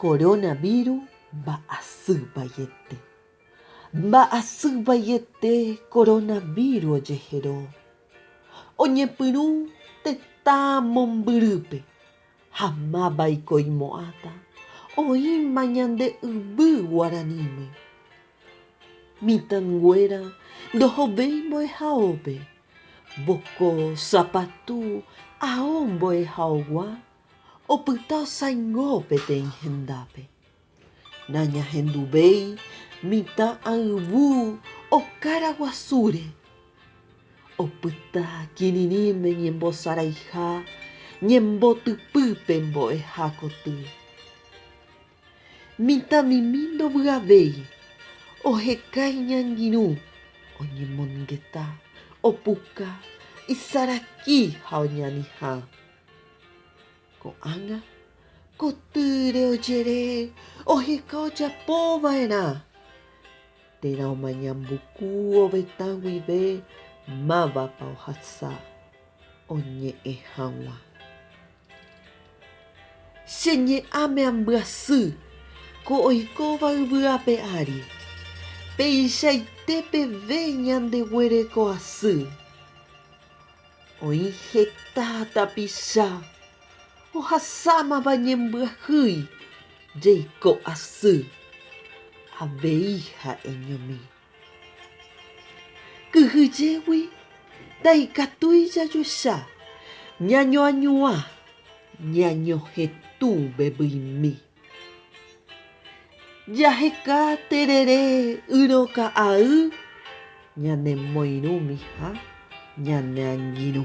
Coronavirus mba'asy vaiete. Mba'asy vaiete coronavirus ojehero. Oñepyrũ tetã mombyrýpe ha mávaiko oimo'ãta oĩma ñande yvy guaraníme. Mitãnguéra ndohovéi mbo'ehaópe Mboko, sapatu, ao mbo'ehaogua opyta saingo peteĩ hendápe. Nañahenduvéi mitã ayvu okára guasúre. Opyta kirirĩme ñembosaraiha ñembotypýpe mbo'eha koty. Mitãmimi ndovyavéi, oheka iñangirũ, oñemongeta, opuka, isaraki ha oñanihã. Ko'ág̃a, kotýre ojere oheka ojapo va'erã térã omañambuku ovetã guive mávapa ohasa oñe'ẽ hag̃ua. Che ñe'ãme ambyasy ko oikóva yvy ape ári, peichaite peve ñandeguereko asy. Oĩ heta tapicha ohasámava ñembyahýi jeiko asy, avei ha'eñomi. Kyhyjégui ndaikatúi jajoecha ñañoañuã ñañohetũ vevyimi. Jaheka terere yroka'aý ñanemoirũmi ha ñaneangirũ.